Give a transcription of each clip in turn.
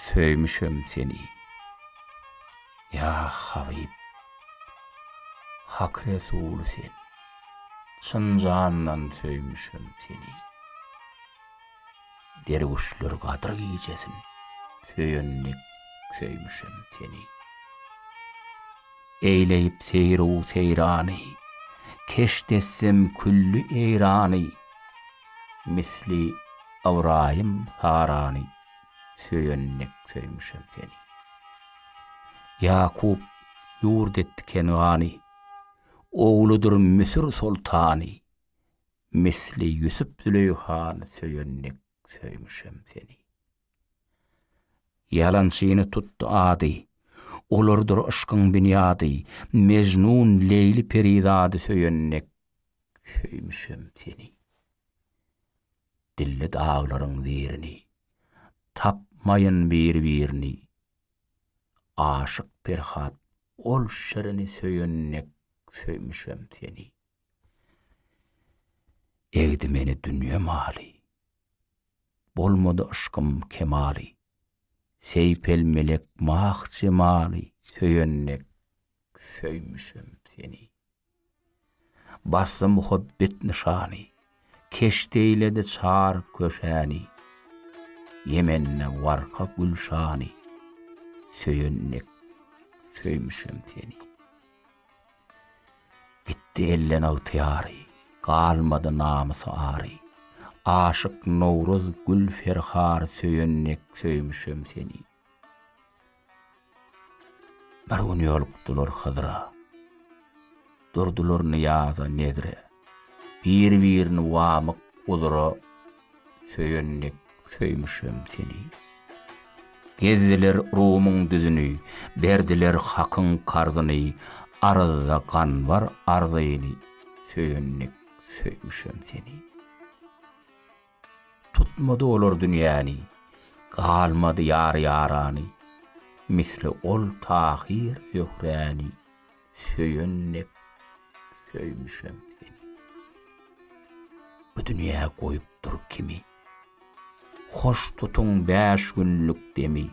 Söýmüşem seni, ýa Habyp, Hak Resuly sen, Çyn jandan söýmüşem seni. Derwüşler gadyr gijesin, Söýen dek söýmüşem seni. Eýleýip seýr-u-seýrany, Keşdetsem külli eýrany, Misli Ybraýym Sarany söýen dek söýmüşem seni. Ýakup ýurt etdi Kengany, Ogludyr Müsür soltany, Misli Ýusup Züleýhany söýen dek söýmüşem seni. Ýalançyny tutdy ady, Olardyr yşkyň binýady, Mejnun Leýli Perizady söýen dek Söýmüşem seni. Dilli daglaryň zeýrini. Tapmaýyn bir-birini. Aşyk Perhat ol şirini söýen dek söýmüşem seni. Egdi meni dünýe maly. Bolmady yşkym kemaly. Seýpel melek mah jemaly söýen dek söýmüşem seni. Bassa muhabbet nyşany. Keşdeýledi çar köşäni. Ýemende warka gülşany. Söýen dek söýmüşem seni. Gitdi elden ygtyýary. Galmady namys-ary. Aşyk Nowruz gül ferhar söýen dek söýmüşem seni. Bir gün ýolukdylar Hydyra. Durdular nyýaza, nezre. Bir-birini wamyk uzra söýen dek söýmüşem seni. Gezdiler Rumyň düzüni, berdiler hakyň karzyny, aryzda gan bar arzyny, söýen dek söýmüşem seni. Tutmady olar dünýäni, Galmady ýar-ýarany, Misli ol Tahyr Zöhräni, Söýen dek söýmüşem seni. Bu dünýä goýupdyr kimi, Hoş tutuň bäş günlük demi,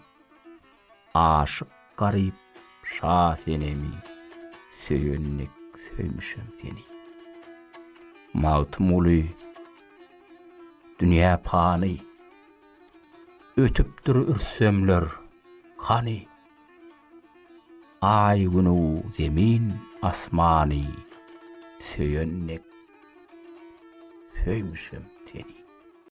Aşyk garyp şa senemi, Söýendik söýmüşem seni. Magtymguly Dünýä pany, Ötüpdir ürssemler, hany? Aý-Günü, Zemin, Asmany, Söýendik söýmüşem seni.